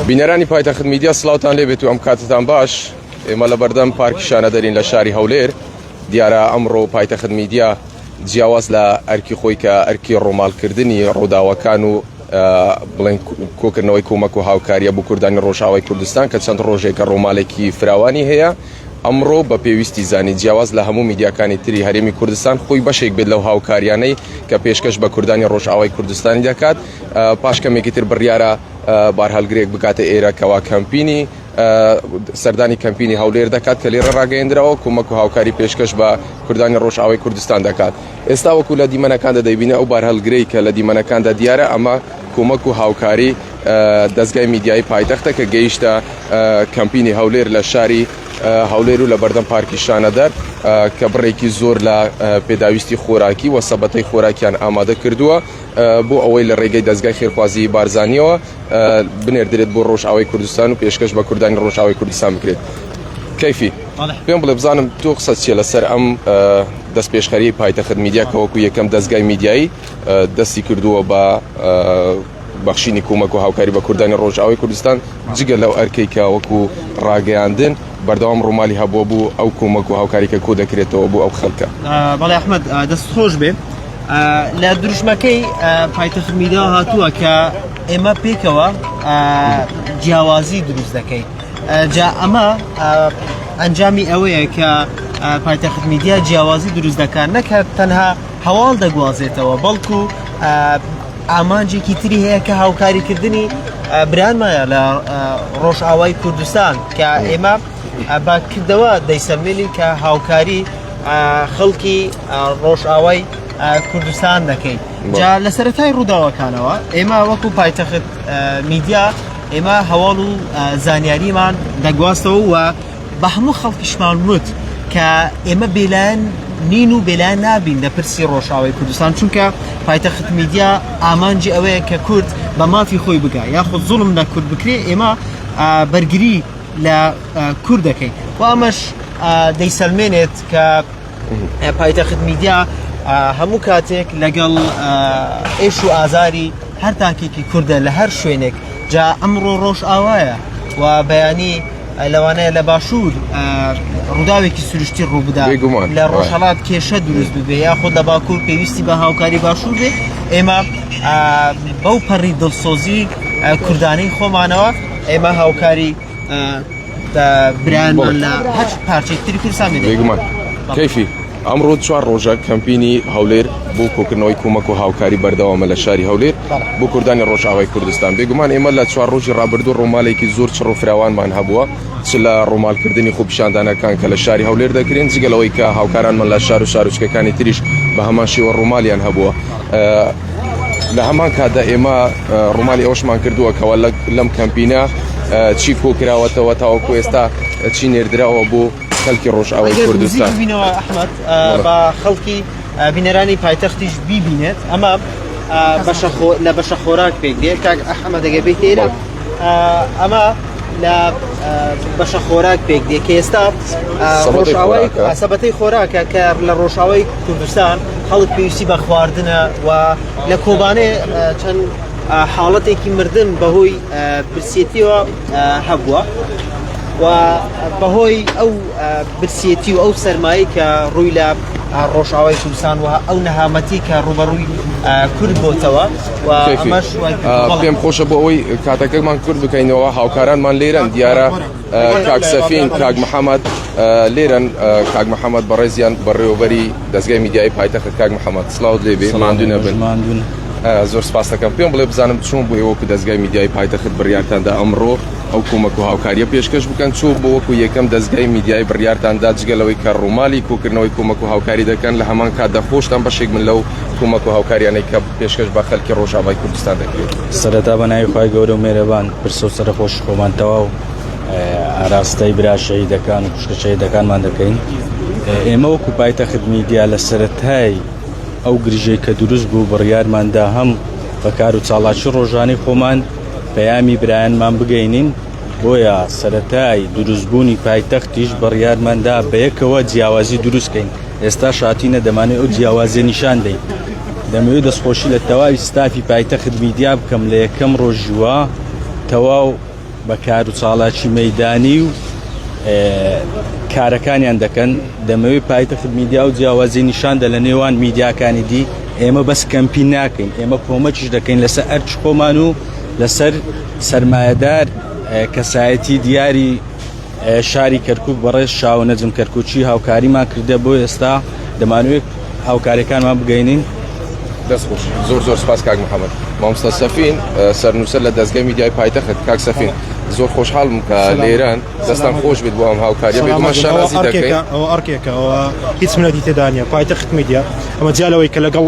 بینەرانی پایتەخت میدیا سلااوان لێ بێت و ئەم کاتتان باش ئێمە لە بەردەم پارکیشانە دەرین لە شاری هەولێر دیارە ئەمڕۆ پایتەخت میدیا جیاواز لە ئەرکی خۆی کە ئەرکی ڕۆمالکردنی ڕووداوەکان و بڵێن کۆکردنەوەی کۆمەک و هاوکاریە بۆ کوردانی ڕۆژاوای کوردستان کە چەند ڕۆژێکە ڕۆمالێکی فراوانی هەیە ئەمڕۆ بە پێویستی زانی جیاواز لە هەموو میدیاکانی تری هەرێمی کوردستان خۆی بەشێک بێت لەو هاوکاریانەی کە پێشکەش بە کوردانی ڕۆژئاوای کوردستانی دەکات پاش کەمێکی تر بڕیارە بارهەلگرێک بگاتە ئێرە کەوا کەمپینی سەردانی کەمپینی هەولێر دەکات کە لێرە ڕاگەیەندراوە کۆمەک و هاوکاری پێشکەش بە کوردانی ڕۆژئاوای کوردستان دەکات. ئێستا وەکو لە دیمەنەکاندا دەیبینی ئەو بارهەلگرەی کە لە دیمەنەکاندا دیارە ئەمە کۆمەک و هاوکاری دەستگای میدیایی پایتەختە کە گەیشتە کەمپینی هەولێر لە شاری هەولێر و لە بەردەم پارکی شانەدەر کە بڕێکی زۆر لە پێداویستی خۆراکی و سەبەتەی خۆراکیان ئامادە کردووە بۆ ئەوەی لە ڕێگەی دەستگای خێرخوازی بارزانانیەوە بنێردرێت بۆ ڕۆژئاوای کوردستان و پێشکەش بە کوردانی ڕۆژئاوای کوردستان بکرێت کەفی پێم بڵێ بزانم تۆ قسە چیە لەسەر ئەم دەستپێشخەریی پایتەخت میدیا کە وەکو یەکەم دەزگای میدیایی دەستی کردووە بە بەخشینی کومەک و هاوکاری بە کوردانی ڕۆژئاوای کوردستان جگە لەو ئەرکەی کە وەکو ڕاگەیاندن بەردەوام ڕوومالی هەبووە بوو ئەو کومەک و هاوکاری کە کۆ دەکرێتەوە بۆ ئەو خەڵکە بەڵێ ئەحمەد دەست خۆش بێ لە دروشمەکەی پایتەخت میدیا هاتووە کە ئێمە پێکەوە جیاوازی دروست دەکەین جا ئەمە ئەنجامی ئەوەیە کە پایتەخت میدیا جیاوازی دروست دەکات نەکات تەنها هەواڵ دەگوازێتەوە بەڵکو ئامانجێکی تری هەیە کە هاوکاریکردنی برانمایە لە ڕۆژئاوای کوردستان کە ئێمە با کردەوە دەیسەمێنی کە هاوکاری خەڵکی ڕۆژئاوای کوردستان دەکەین جا لە سەرەتای ڕووداوەکانەوە ئێمە وەکو پایتەخت میدیا ئێمە هەواڵ و زانیاریمان دەگواستەوە و بە هەموو خەڵکیشمان وت کە ئێمە بێلایەن نین و بێلایەن نابین لە پرسی ڕۆژاوای کوردستان چونکە پایتەخت میدیا ئامانجی ئەوەیە کە کورد بە مافی خۆی بگا یاخود زوڵم لە کورد بکرێ ئێمە بەرگری لە کورد دەکەین و ئەمەش دەیسەلمێنێت کە پایتەخت میدیا هەموو کاتێک لەگەڵ ئێش و ئازاری هەر تاکێکی کوردە لە هەر شوێنێک جا ئەمڕۆ ڕۆژ ئاوایە و بەیانی لەوانەیە لە باشوور ڕووداوێکی سروشتی ڕووبدا لە ڕۆژهڵات کێشە دروست ببێ یا خۆ لە باکوور پێویستی بە هاوکاری باشوور بێ ئێمە بەو پەڕی دڵسۆزی کوردانی خۆمانەوە ئێمە هاوکاری برایانمان لە هەر پارچەی تری کوردستان بێگومان کەفی ئەمڕۆ چوار ڕۆژە کەمپینی هەولێر بۆ کۆکردنەوەی کۆمەک و هاوکاری بەردەوامە لە شاری هەولێر بۆ کوردانی ڕۆژاوای کوردستان بێگومان ئێمە لە چوار ڕۆژی ڕابردوو ڕۆمالێکی زۆر چڕ و فراوانمان هەبووە چ لە ڕۆمالکردنی خۆپیشاندانەکان کە لە شاری هەولێر دەکرێن جگەلەوەی کە هاوکارانمان لە شار و شارچکەکانی تریش بە هەمان شێوە ڕۆمالیان هەبووە لە هەمان کاتدا ئێمە ڕوومالی ئەوشمان کردووە کەەوە لەم کەمپینە چی کۆکراوەتەوە تاوەکو ئێستا چی نێردراوە بۆ خەلکی ڕۆژئاوای کوردستان بینەوە ئەحمد بە خەڵکی بینەرانی پایتەختیش بیبینێت ئەمە بەشە لە بەشە خۆراک پێک دێ کاک ئەحمە دەگەبێت تێرە ئەمە لە بەشە خۆراک پێک دێ کە ئێستا سەبەتەی خۆراکە کە لە ڕۆژاوی کوردستان خەڵک پێویستی بە خواردنە و لە کۆبانێ چەند حاڵەتێکی مردن بەهۆی برسێتیەوە هەبووە و بەهۆی ئەو برسێتی و ئەو سەرمایی کە ڕووی لە ڕۆژاوای کوردستان وە ئەو نەهامەتی کە ڕوبەڕووی کورد بۆتەوە پێم خۆشە بۆ ئەوەی کاتەکەمان کورد بکەینەوە هاوکارانمان لێرەن دیارە کاکسەفین کاک محەممەد لێرەن کاک محەممەد بەڕێزیان بەڕێوەبەری دەستگای میدیایی پایتەخت کاک محەممەد سلااو لێبێ ماندوو نەبن ماندون زۆر سپاسەکەم پێم بڵێ بزانم چۆن بۆ ئێوەکو دەستگای میدیایی پایتەخت بڕیارتاندا ئەمڕۆ ئەو کۆمەک و هاوکاریە پێشکەش بکەن چۆ بۆ وەکو یەکەم دەستگای میدیایی بڕیارتاندا جگەلەوەی کە ڕوومالی کۆکردنەوەی کۆمەک و هاوکاری دەکەن لە هەمان کاتدا خۆشتان بەشێک من لەو کۆمەک و هاوکاریانەی کە پێشکەش بە خەلکی ڕۆژاڤای کوردستان دەکرێت. سەرەتا بە ناوی خوای گەورە و مێرەبان پرسە و سەرخۆش خۆمان تەواو ئاراستەی برا شەهیدەکان و خوشکە شەهیدەکانمان دەکەین ئێمە وەکو پایتە خدمیدیا لە سەتای ئەو گرژەی کە دروست بوو بڕیارماندا هەم بە کار و چاڵاکی ڕۆژانی خۆمان پەیامی برایانمان بگەینین بۆیە سەتای دروستبوونی پایتەختیش بڕیارماندا بەیەکەوە جیاوازی دروستکەین ئێستاش هاتینە دەمانەوێت ئەو جیاوازیە نیشان دەین دەمەوێت دەستخۆشی لە تەواوی ستافی پایتەخت میدیا بکەم لە یەکەم ڕۆژیوە تەواو بە کار و چاڵاکی مەدانی و کارەکانیان دەکەن دەمەوێت پایتەخت میدیا و جیاوازی نیشاندە لە نێوان میدیاکانی دی ئێمە بەس کەمپی ناکەین ئێمە کۆمەکیش دەکەین لەسەر ئەرچ خۆمان و لەسەر سرمایهدار کەسایەتی دیاری شاری کەرکک بەڕێز شاو نەجم کەرکوچی هاوکاریمان کردە بۆ ئێستا دەمانوێت هاوکاریەکانمان بگەینین دەستخۆش زۆر زۆر سپاس کاک محەممەد مامستا سەفین سەرنووسەر لە دەستگە میدیای پایتەخت کاک سەفین زۆر خۆشحاڵم کە لێران دەستان خۆش بێت بۆ ئەم هاوکاری ئەرکێکەوە هیچ منەتی تێدانە پایتەخت میدیا ئەمە جیالەوەی کە لەگەڵ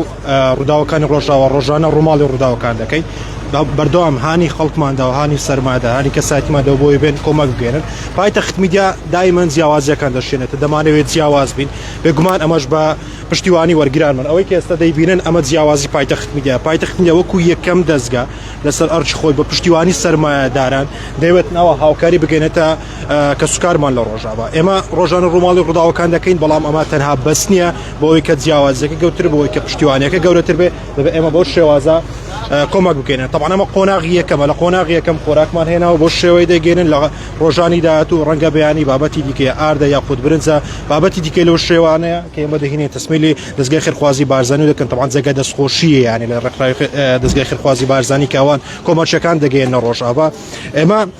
ڕووداوەکانی ڕۆژاوا ڕۆژانە ڕووماڵی ڕووداوەکان دەکەین بەردەوام هانی خەڵکماندا و هانی سەرمادا هانی کەسایتماندا بۆی بێن کۆمەک بگەێنن پایتەخت میدیا دایمەن جیاوازیەکان دەشێنێتە دەمانەوێت جیاواز بین بێگومان ئەمەش بە پشتیوانی وەرگرانمان ئەوەی کە ئێستا دەیبینن ئەمە جیاوازی پایتەخت میدیا پایتەخت میدیا وەکو یەکەم دەستگا لەسەر ئەرچ خۆی بە پشتیوانی سەرمایەداران دەوێت ناوە هاوکاری بگەێنێتە کەسوکارمان لە ڕۆژاوا ئێمە ڕۆژانە ڕووماڵی ڕووداوەکان دەکەین بەڵام ئەمە تەنها بەس نییە بۆی کە جیاوازەکە گەوتر بۆی کە پشتیوانەکە گەورەتر بێ دەبێ ئێمە بۆ شێوازە کۆمەک بکەێنە تەوانەمە قۆناغی یەکەمە لە قۆناغی یەکەم خۆراکمان هێناوە بۆ شێوەی دەگەێنن لە ڕۆژانی داات و ڕەنگە بەیانی بابەتی دیکە ئاردە یاخود برنجە بابەتی دیکە لەو شێوانەیە کە ئێمە دەهینێن تەسمیلی دەستگای خێرخوازی بارزانانی دەکەن تەوان جێگە دەستخۆشیە یانی لە ڕێکخراوی دەستگای خێرخوازی بارزانانی کاوان کۆمەچەکان دەگەێنە ڕۆژاوا ئێمە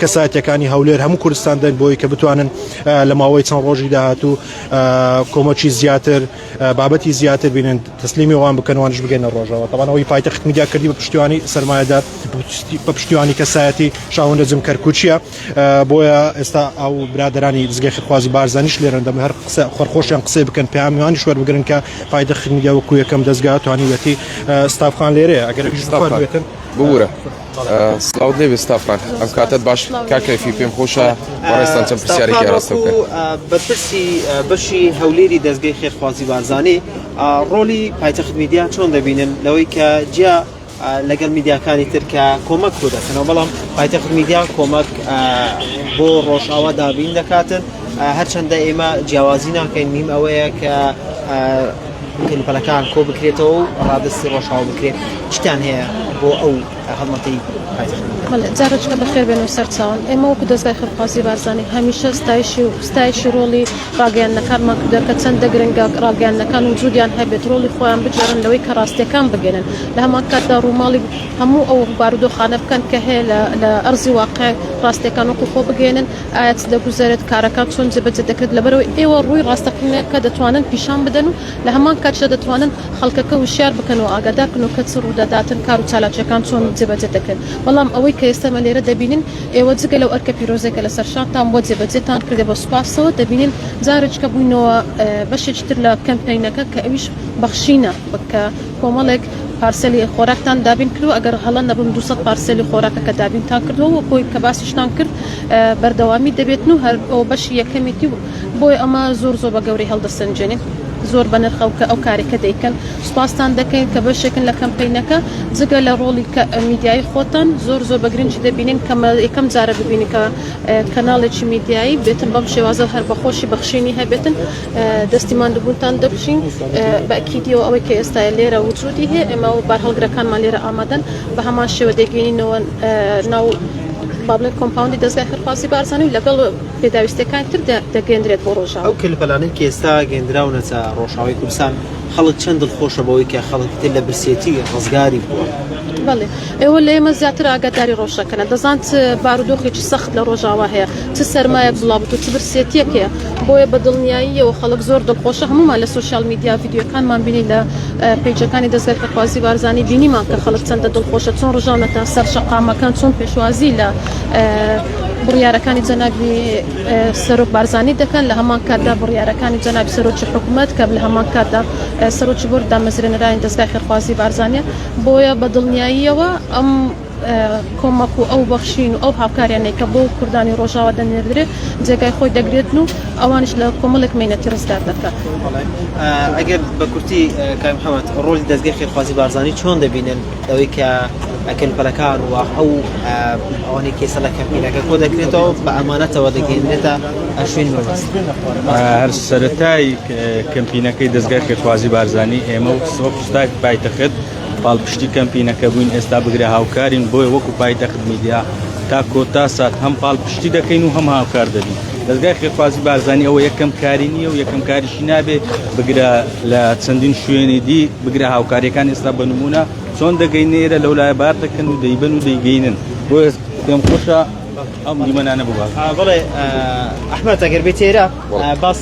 کەسایەتیەکانی هەولێر هەموو کوردستان دەنگ بۆی کە بتوانن لە ماوەی چەند ڕۆژی داهاتوو کۆمەکی زیاتر بابەتی زیاتر بینن تەسلیمی وان بکەنوانش بگەنە ڕۆژەوە تەوانەوەی پایتەخت میدیا کردی بە پشتیوانی سرمایهدار بە پشتیوانی کەسایەتی شاوەندە جم کەرکوچیە بۆیە ئێستا ئەو برادرانی دزگەی خخوازی بارزانیش لێرن دەم هەر قسە خۆرخۆشیان قسەی بکەن پامیوانی شوەر بگرن کە پایدە خمیدیا وەکو یەکەم دەستگا توانیوەتی ستافخان لێرەیە ئەگەر بورە سلااوت لێ بێستا فرانک ئەم کاتت باش کا کەفی پێم خۆشە بەڕێستان چەند پرسیارێکی ڕاستە بەپرسی بەشی هەولێری دەستگەی خێرخوازی بارزانانی ڕۆلی پایتەخت میدیا چۆن دەبینن لەوەی کە جیا لەگەڵ میدیاکانی تر کە کۆمەک بۆ دەکەنەوە بەڵام پایتەخت میدیا کۆمەک بۆ ڕۆژاوا دابین دەکاتن هەرچەندە ئێمە جیاوازی ناکەین نیم ئەوەیە کە کەلوپەلەکان کۆبکرێتەوە و ڕادەستی ڕۆژاو بکرێت چتان هەیە بۆ ئەو هەڵمەتی جارچکە بەخێر بێن و سەرچوان ئێمە وەکو دەستگای خەرخوازی بارزانانی هەمیشە ستایشی و ستایشی ڕۆڵی ڕاگەیانەکانمان کردە کە چەندە گرنگە ڕاگەیانەکان و جودیان هەبێت ڕۆڵی خۆیان بجارن لەوەی کە ڕاستیەکان بگەێنن لە هەمان کاتدا ڕووماڵی هەموو ئەو بارودۆخانە بکەن کە هەیە لە ئەرزی واقع ڕاستیەکان وەکو خۆ بگەێنن ئایا چ دەگوزەرێت، کارەکان چۆن جێبەجێ دەکرێت، لەبەرئەوەی ئێوە ڕووی ڕاستەقینەکە دەتوانن پیشان بدەن و لە هەمان کاتیشدا دەتوانن خەڵکەکە وشیار بکەن و ئاگادار بکەن و کە چ ڕوودەداتن کار و چالاکییەکان چۆن جێبەجێ دەکرێن، بەڵام ئەوەی کە ئێستا ئێمە لێرە دەبینین ئێوە جگە لەو ئەرکە پیرۆزەی کە لەسەر شانتان بووە جێبەجێتان کردە بە سوپاسەوە دەبینین جارێکیکە بووینەوە بەشێکی تر لە کەمپەینەکە کە ئەویش بەخشینە کە کۆمەڵێک پارسێلی خۆراکتان دابین کردووە، ئەگەر هەڵە نەبم دوو سەد پارسێلی خۆراکەکە دابینتان کردووە، وەکۆی کە باسیشتان کرد بەردەوامی دەبێتن و هەر ئەو بەشی یەکەمیتی و بۆیە ئەمە زۆر زۆر بە گەورەی هەڵدەسەنجێنین. زۆر بەنرخە کە ئەو کارێکە دەیکەن. سوپاستان دەکەین کە بەشێکن لە کەمپەینەکە. جگە لە ڕۆڵی کە میدیایی خۆتان زۆر زۆر بە گرنگی دەبینین کە مە یەکەم جارە ببینین کە کەناڵێکی میدیایی بێتن بەم شێوازە و هەر بە خۆشی بەخشینی هەبێتن. دەستی ماندووبوونتان دەبژین. بەئەکیدییەوە ئەوەی کە ئێستا لێرە وجودی هەیە، ئێمە و بارهەڵگرەکانمان لێرە ئامادەن، بە هەمان شێوە دەیگەیینەوە ناو با بڵێین کۆمپاوندی دەزگای خێرخوازی بارزانی و لەگەڵ پێداویستییەکانی تر دەگەیێندرێت بۆ ڕۆژاوا. ئەو کەلوپەلانەی کە ئێستا گەیێندراونەتە ڕۆژاوای کوردستان، خەڵک چەند دڵخۆشە بەوەی کە خەڵکی تر لە برسێتی ڕزگاری بووە؟ بەڵێ. ئێوە لە ئێمە زیاتر ئاگاداری ڕۆژەکەنە دەزانت بارودۆخی چ سەخت لە ڕۆژاوا هەیە چ سەرمایەک بڵاوبت و چ برسێتیەک هەیە بۆیە بە دڵنیاییەوە خەڵک زۆر دڵخۆشە هەمومان لە سۆشیال میدیا ڤیدیۆکانمان بینی لە پیجەکانی دەزگای خەرخوازی بارزانی بینیمان کە خەڵک چەندە دڵخۆشە چۆن ڕژاونەتە سەر شەقامەکان چۆن پێشوازی لە بڕیارەکانی جەنابی سەرۆک بارزانی دەکەن لە هەمان کاتدا بڕیارەکانی جەنابی سەرۆکی حکوومەت کە لە هەمان کاتدا سەرۆکی بۆر دامەزرێنەرانی دەستگای خێرخوازی بارزانە بۆیە بە دڵنیاییەوە ئەم کۆمەک و ئەو بەخشین و ئەو هاوکاریانەی کە بۆ کوردانی ڕۆژاوا دەنێردرێت جێگای خۆی دەگرێتن و ئەوانش لە کۆمەڵێک مینەتی ڕزگار دەکات ئەگەر بە کورتی کامحەمەد ڕۆژی دەستگەی خێرخوازی بارزانانی چۆن دەبینن ئەوەی کە ئەکەن پەلەکان و ئەو ئەوانەی کێسە لە کەمپینەکە کۆ دەکرێتەوە بە ئەمانەتەوە دەگەێنێتە ئەشوین هەر سەتای کەمپینەکەی دەستگای خێرخوازی بارزانانی ئێمە و سپای پایتەخت پاڵپشتی کەمپینەکە بووین ئێستا بگرە هاوکارین بۆیە وەکو پایتەخت میدیا تا کۆتا سات هەم پاڵپشتی دەکەین و هەم هاوکار دەبین دەستگای خێرخوازی بارزانانی ئەوە یەکەم کاری نییە و یەکەم کاریشی نابێ بگرە لە چەندین شوێنی دی بگرە هاوکاریەکان ئێستا بە نمونە چۆن دەگەین نێرە لەو لای بار دەکەن و دەیبن و دەیگەینن بۆ پێم خۆشە ئەم دیمەنانە بووە بڵێ ئەحمد ئەگەر بێت تێرە باس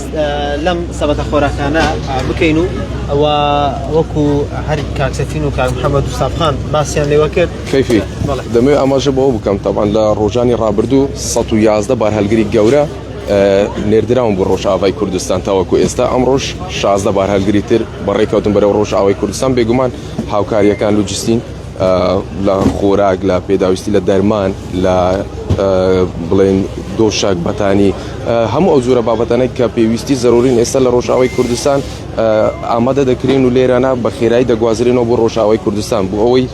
لەم سەبەتە خۆراکانە بکەین و ئەوە وەکو هەر کاکسەتین و کاک محەممەد و سابخان باسییان لێوە کرد کەفی دەمێ ئاماژە بەوە بکەم تاوان لە ڕۆژانی ڕابردوو 111 بار هەلگری گەورە نێردراون بۆ ڕۆژاوای کوردستان تاوەکو ئێستا ئەم ڕۆژ شازدە بار هەلگری تر بەڕێکەوتن بەرەو ڕۆژاوای کوردستان بێگومان هاوکاریەکان لوجستین لە خۆراک لە پێداویستی لە دەرمان لە بڵێن دۆشاک بەتانی هەموو ئەو جۆرە بابەتانێک کە پێویستی زەرورین ئێستا لە ڕۆژاوی کوردستان ئامادە دەکرێن و لێرانە بە خێرایی دەگوازرێنەوە بۆ ڕۆژاوی کوردستان بۆ ئەوەی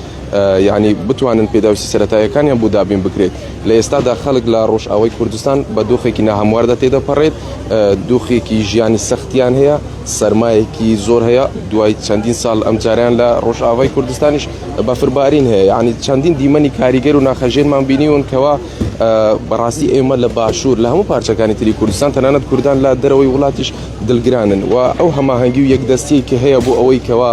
یعنی بتوانن پێداویستی سەتایەکانیان بۆ دابین بکرێت لە ئێستادا خەڵک لە ڕۆژاوی کوردستان بە دۆخێکی ناهمواردا تێدەپەڕێت دۆخێکی ژیانی سەختیان هەیە سەرمایەکی زۆر هەیە دوای چەندین ساڵ ئەم جاریان لە ڕۆژئاوای کوردستانیش بەفربارین هەیە یعنی چەندین دیمەنی کاریگەر و ناخەژێنمان بینیون کەوا بەڕاستی ئێمە لە باشوور لە هەموو پارچەکانی تری کوردستان تەنانەت کوردان لە دەرەوەی وڵاتیش دلگرانن و ئەو هەماهەنگی و یەکدەستیەکی هەیە بۆ ئەوەی کەوا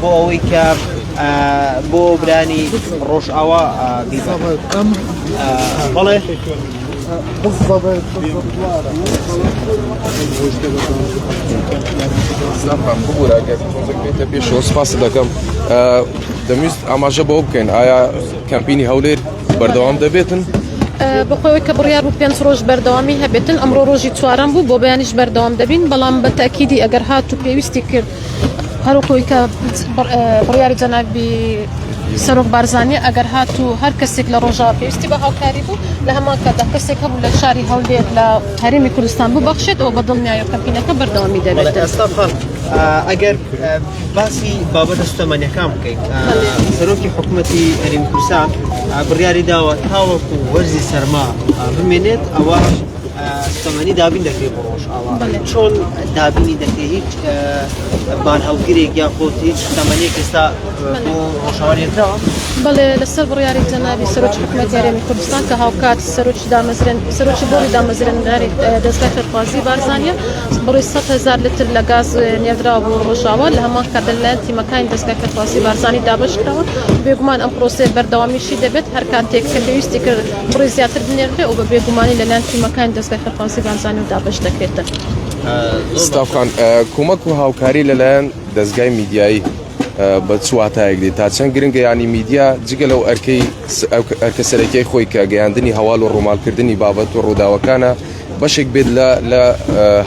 بۆ ئەوەی کە بۆ برانی ڕۆژئاوا بەڵێ پێشەوە سپاس دەکەم دەمویست ئاماژە بۆ بکەین ئایا کەمپینی هەولێر بەردەوام دەبێتن بەخۆی کە بڕیار و پێنج ڕۆژ بەردەوامی هەبێتن ئەمڕۆ ڕۆژی چوارم بوو بۆ بەیانیش بەردەوام دەبین بەڵام بە تاکیدی ئەگەر هات و پێویستی کرد هەروەکوی کە بڕیاری جەنابی سەرۆک بارزانانی ئەگەر هات و هەر کەسێک لە ڕۆژاوە پێویستی بە هاوکاری بوو لە هەمان کاتدا کەسێک هەبوو لە شاری هەولێر لە هەرمی کوردستان ببەخشێت ئەو بە دڵنیایە کەمپینەکە بەردەوامی دەبێت ئەگەر باسی بابەتە سوتەمەنیەکان بکەین سەرۆکی حکوومەتی هەرمی کوردستان بڕیاری داوە تاوەکو وەرزی سەرما بمێنێت ئەوە سوتەمەنی دابین دەکرێت بۆ ڕۆژئاوا چۆن دابینی دەکرێت هیچ بان هەڵگرێک یان خۆت هیچ سوتەمەنیێک ئێستا بۆ ڕۆژاوانێتەوە بەڵێ لەسەر بڕیاری جەنابی سەرۆک حکومەت یارێمی کوردستان کە هاوکات سەرۆکی دامەزرێن سەرۆکی بۆڵی دامەزرێنەری دەستگای فەرخوازی بارزانە بڕی 100 هزار لتر لە گاز نێدرا بۆ ڕۆژاوا لە هەمان کات لەلایەن تیمەکانی دەستگای فەرخوازی بارزانانی دابشکراوە بێگومان ئەم پرۆسێ بەردەوامیشی دەبێت هەر کاتێک کە پێویستی کرد بڕی زیاتر بنێردرێ و بە بێگومانی لەلایەن تیمەکانی دەزگای خەرفازی بارزانی و دابەش دەکرێتن. ستاف خان، کۆمەک و هاوکاری لەلایەن دەزگای میدیایی بە چواتایەک دێت تا چەند گرنگە ینی میدیا جگە لەو ئەرکەی ئەرکە سەرەکیی خۆی کە گەیاندنی هەواڵ و ڕوومالکردنی بابەت و ڕووداوەکانە بەشێک بێت لە لە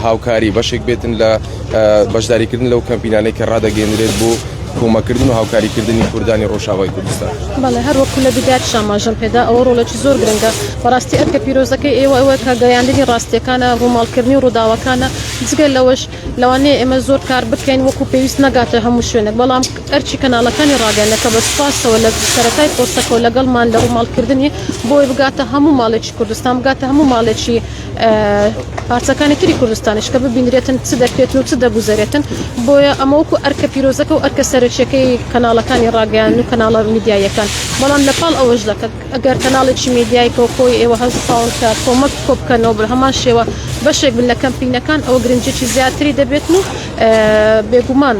هاوکاری بەشێک بێتن لە بەشداریکردن لەو کەمپینانەی کە ڕدەگەێنرێت بۆ کۆمەکردن و هاوکاریکردنی کوردانی ڕۆژاوای کوردستان بەڵێ هەر وەکو لە بدات شاماژم پێدا ئەوە ڕۆڵێکی زۆر گرنگە بەڕاستی ئەرکە پیرۆزەکەی ئێوە ئەوە کە گەیاندنی ڕاستیەکانە ڕووماڵکردنی ڕووداوەکانە جگە لەوەش لەوانەیە ئێمە زۆر کار بکەین وەکو پێویست نەگاتە هەموو شوێنێک بەڵام ئەرچی کەناڵەکانی ڕاگەیاندنەکە بە سوپاسەوە لە سەرەتای پۆستەکەەوە لەگەڵمان لە ڕووماڵکردنی بۆی بگاتە هەموو ماڵێکی کوردستان بگاتە هەموو ماڵێکی پارچەکانی تری کوردستانیش کە ببینرێتن چ دەکرێتن و چ دەگوزارێتن بۆیە ئەمەوەکو ئەرکە پیرۆزەکە و ئەرکە سەرچەکەی کەناڵەکانی ڕاگەیان و کەناڵە میدیایەکان بەڵام لە پاڵ ئەوەش دەکەن ئەگەر کەناڵێکی میدیای کۆکۆی ئێوە هەستاون کە کۆمەک کۆبکەنەوە بە هەمان شێوە بەشێک بن لە کەمپینەکان ئەوە گرنجێکی زیاتری دەبێت و بێگومان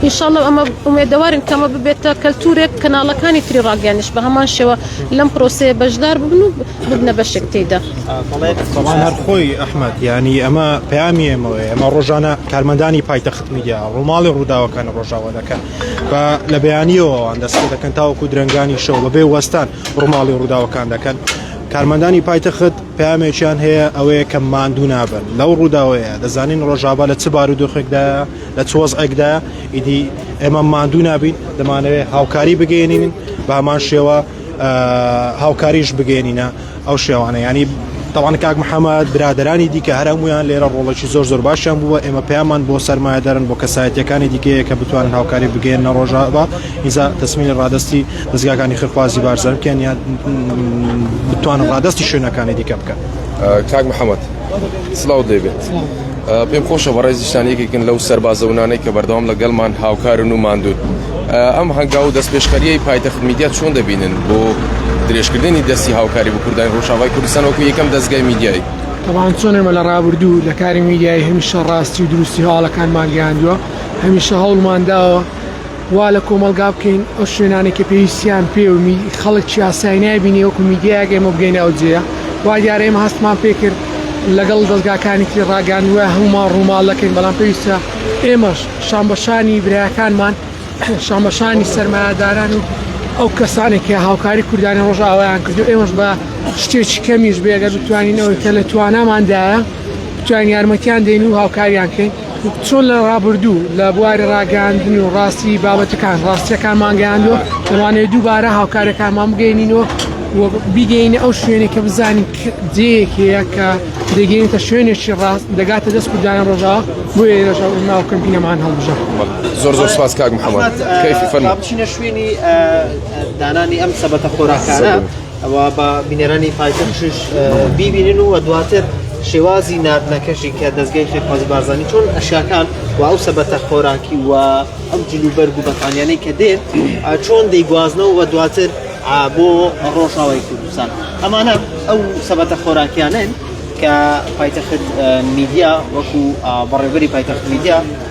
ئینشاالله ئەمە ئومێدەوارین کەمە ببێتە کەلتورێک کەناڵەکانی تری ڕاگەیانش بە هەمان شێوە لەم پرۆسەیە بەشدار ببن و ببنە بەشێک تێدا خۆی ئەحمد ینی ئەمە پامی ئەمەوەی ئەمە ڕۆژانە کارمەندانی پایتەخت میدیا ڕووماڵی ڕووداوەکان ڕۆژاوە دەکەن بە لە بەیانیەوەوان دەستێ دەکەن تاوەکو درنگانی شەو بەبێ وەستان ڕووماڵی ڕووداوەکان دەکەن کارمەندانی پایتەخت پامێکیان هەیە ئەوەیە کە ماندوو نابن لەو ڕووداوەیە دەزانین ڕۆژاوا لە چ بارودۆخێکدا لە چۆز ئەکدا ئیدی ئێمە ماندوو نابین دەمانەوێت هاوکاری بگەێنین بامان شێوە هاوکاریش بگەێنینە ئەو شێوانە یانی تاوان کاک محەممەد برادرانی دیکە هەر هەمویان لێرە ڕۆڵێکی زۆر زۆر باشیان بووە ئێمە پەیامان بۆ سەرمایەدارن بۆ کەسایەتەکانی دیکەیە کە بتوانن هاوکاری بگەێن نەڕۆژە بە ئیزا تەسمینی ڕادستی دەستگاکانی خخوازی بارزانکەن یان بتوانن ڕادستی شوێنەکانی دیکە بکەن کاک محەممەد. سلااوت لێبێت پێم خۆشە بە ڕێزیشتان یەکێکن لەو سەربازەونانەی کە بەردەوام لەگەڵمان هاوکارن و ماندوون ئەم هەنگاو و دەست پێشخەریی پایتەخت میدیا چۆن دەبینن بۆ درێژکردنی دەستی هاوکاری بە کوردانی ڕۆژاوای کوردستان وەکو یەکەم دەستگای میدیایی تەوان چۆنێمە لە ڕابردوو لە کاری میدیایی هەمیشە ڕاستی و دروستی هەواڵەکانمان گەیاندووە هەمیشە هەوڵمانداوە وا لە کۆمەڵگا بکەین ئەو شوێنانەی کە پێویستیان پێ و خەڵک یاسای نابینێ وەکو میدیایەک ئێمە بگەینە ئەو جێە وا دیارە ئێمە هەستمان پێ کرد لەگەڵ دەستگاکانێکی ڕاگەاندوە هەمومان ڕووماڵ دەکەین بەڵام پێویستە ئێمەش شانبەشانی برایەکانمان شانبەشانی سەرمایهداران و ئەو کەسانێک کە هاوکاری کوردانی ڕۆژاوایان کردو ئێمەش بە شتێکی کەمیش بێگە بتوانینەوەی کە لە تواناماندایە بتوانین یارمەتیان دێن و هاوکاریان کەین چۆن لە ڕابردوو لە بواری ڕاگەاندن و ڕاستی بابەتەکان ڕاستیەکانمان گەیاندوە دەمانەوێت دووبارە هاوکارەکانمان بگەینینەوە بیگەینە ئەو شوێنێک کە بزانین جەیەکەیە کە دەگەینتە شوێنێکی ڕاست دەگاتە دەست کورددایان ڕۆژا بۆ ێژە ناو کەمپینەمان هەڵبژە زۆر زۆر سپاس کاک محەممەد کەفی فەرمابچینە شوێنی دانانی ئەم سەبەتە خۆراکانە. ئەوا با بینەرانی پایتەخشش بیبینن و دواتر شێوازی نردنەکەشی کە دەستگەی فێرخوازی بارزانانی چۆن ئەشیاکان و ئەو سەبەتە خۆراکی و ئەم جلوبەرگ و بەتانیانەی کە دێن چۆن دەیگوازنەوە و دواتر بۆ ڕۆژاوای کوردستان ئەمانە ئەو سەبەتە خۆراکیانن کە پایتەخت میدیا وەکو بەڕێبەری پایتەخت میدیا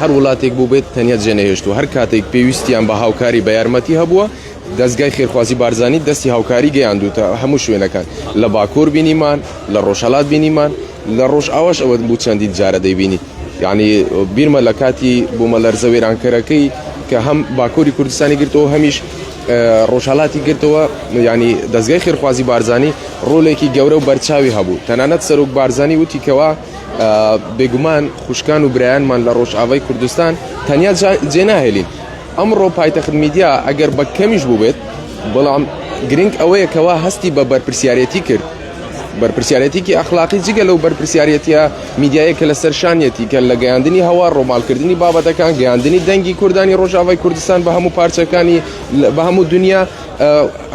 هەر وڵاتێک بووبێت تەنیا جێنەهێشتووە هەر کاتێک پێویستیان بە هاوکاری بە یارمەتی هەبووە دەستگای خێرخوازی بارزانی دەستی هاوکاری گەیاندوتە هەموو شوێنەکان لە باکۆر بینیمان لە ڕۆژهەڵات بینیمان لە ڕۆژ ئاواش ئەوە بوو چەندین جارە دەیبینی یعنی بیرمە لە کاتی بوومە لەرزە وێرانکەرەکەی کە هەم باکۆری کوردستانی گرتەوە هەمیش ڕۆژهڵاتی گرتەوە ینی دەستگای خێرخوازی بارزانانی ڕۆلێکی گەورە و بەرچاوی هەبوو تەنانەت سەرۆک بارزانانی وتیکەوە بێگومان خوشکان و برایانمان لە ڕۆژئاوای کوردستان تەنیا جێناهێلین ئەمڕۆ پایتەخت میدیا ئەگەر بە کەمیش بووبێت بەڵام گرنگ ئەوەیە کەوا هەستی بە بەرپرسیارەتی کرد بەرپسیارەتێکی ئەخلاقی جگە لەو بەرپسیارەتە میدیایە کە لە سەرشانیەتی کە لە گەیاندنی هەوا ڕۆمالکردنی بابەتەکان گەیاندنی دەنگی کوردانی ڕۆژاوای کوردستان بە هەموو پارچەکانی بە هەموو دنیا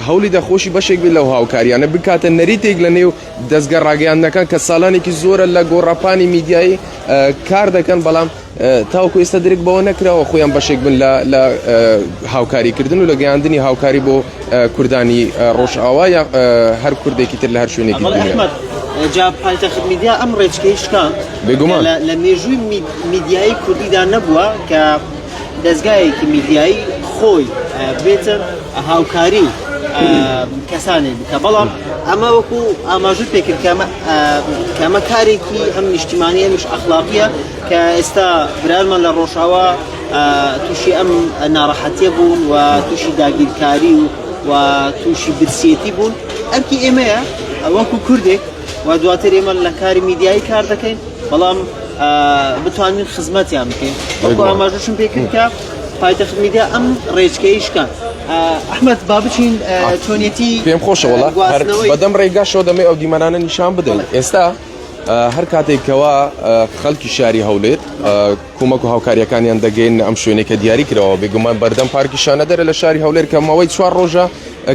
هەولی دەخۆشی بەشێک لەو هاوکاریانە بکاتە نەریتێک لە نێو دەزگا ڕاگەیاندنەکان کە سالانێکی زۆرە لە گۆڕاپانی میدیایی کار دەکەن بەڵام تاوکو ئێستا درک بەوە نەکراوە خۆیان بەشێک بن لە هاوکاریکردن و لە گەیاندنی هاوکاری بۆ کوردانی ڕۆژئاوا یا هەر کوردێکی تر لە هەر شوێنێکی بێگومان لە مێژووی میدیایی کوردیدا نەبووە کە دەزگایەکی میدیایی خۆی بێتە هاوکاری کەسانێک بکە بەڵام ئەمە وەکو ئاماژت پێکرد کەمە کارێکی ئەم نیشتیمانی ئەمیش ئەخلاقیە کە ئێستا برارمان لە ڕۆژاوا تووشی ئەم ناڕەحەتە بوون و تووشی داگیرکاری و و تووشی برسیەتی بوون ئەرکی ئێمەیە ئەوەکو کوردێک و دواتر ئێمە لە کاری میدیایی کار دەکەین بەڵام بتوانین خزمەتیان بکەین وەکو ئاماژەشم پێ کرد کە پایتەخت میدیا ئەم ڕێچکەی شکان ئەحمد با بچین چۆنیەتی پێم خۆشەوەڵ بەدەم ڕێگاشەوە دەمێ ئەو دیمەنانە نیشان بدەن ئێستا هەر کاتێکەوە خەڵکی شاری هەولێر کومەک و هاوکاریەکانیان دەگەین ئەم شوێنێکە دیاری کرەوە بێگومان بەردەم پارکیشانە دەرە لە شاری هەولێر کەمەوەی چوار ڕۆژە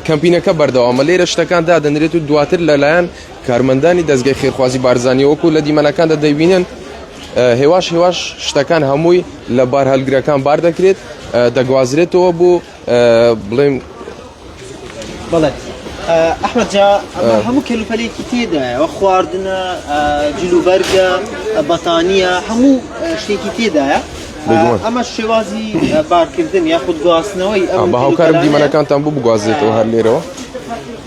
کەمپینەکە بەردەوامە لێرە شتەکان دادەنرێت و دواتر لەلایەن کارمەندانی دەزگای خێرخوازی بارزانانی وەکو لە دیمەنەکاندا دەبینن هێواش هێواش شتەکان هەمووی لە بار هەلگرەکان بار دەکرێت دەگوازرێتەوە بۆ بڵێم بڵێت ئەحمد جا هەموو کەلوپەلێکی تێدایەوە خواردنە جلوبەرگە بەتانیە هەموو شتێکی تێدایە ئەمە شێوازی بارکردن یاخود گواستنەوەی ئەم بە هاوکارم دیمەنەکانتان بوو بگوازێتەوە هەر لێرەوە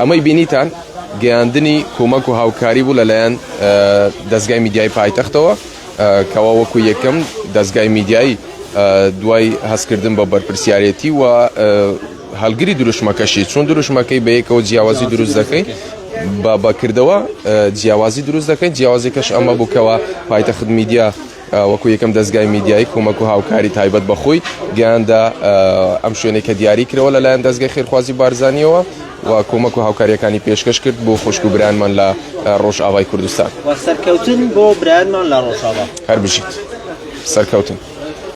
ئەمەی بینیتان گەیاندنی کۆمەک و هاوکاری بوو لەلایەن دەستگای میدیای پایتەختەوە کەوا وەکو یەکەم دەستگای میدیایی دوای هەستکردن بە بەرپرسیارەتی و هەلگری دروشمەکەشی چون دروشمەکەی بەیەکەوە جیاوازی دروست دەکەین بە بەکردەوە جیاوازی دروست دەکەین جیاوازەکەش ئەمە بووکەوە پایتەخت میدیا وەکو یەکەم دەزگای میدیایی کۆمەک و هاوکاری تایبەت بە خۆی گەیاندە ئەم شوێنێک کە دیاری کرەوە لەلایەن دەستگای خێرخوازی بارزانانیەوە و کۆمەک و هاوکاریەکانی پێشکەش کرد بۆ خوشک و برانمان لە ڕۆژئاوای کوردستان سەرکەوتن بۆ برانمان لە ڕۆژاوا هەربژیت سەرکەوتن.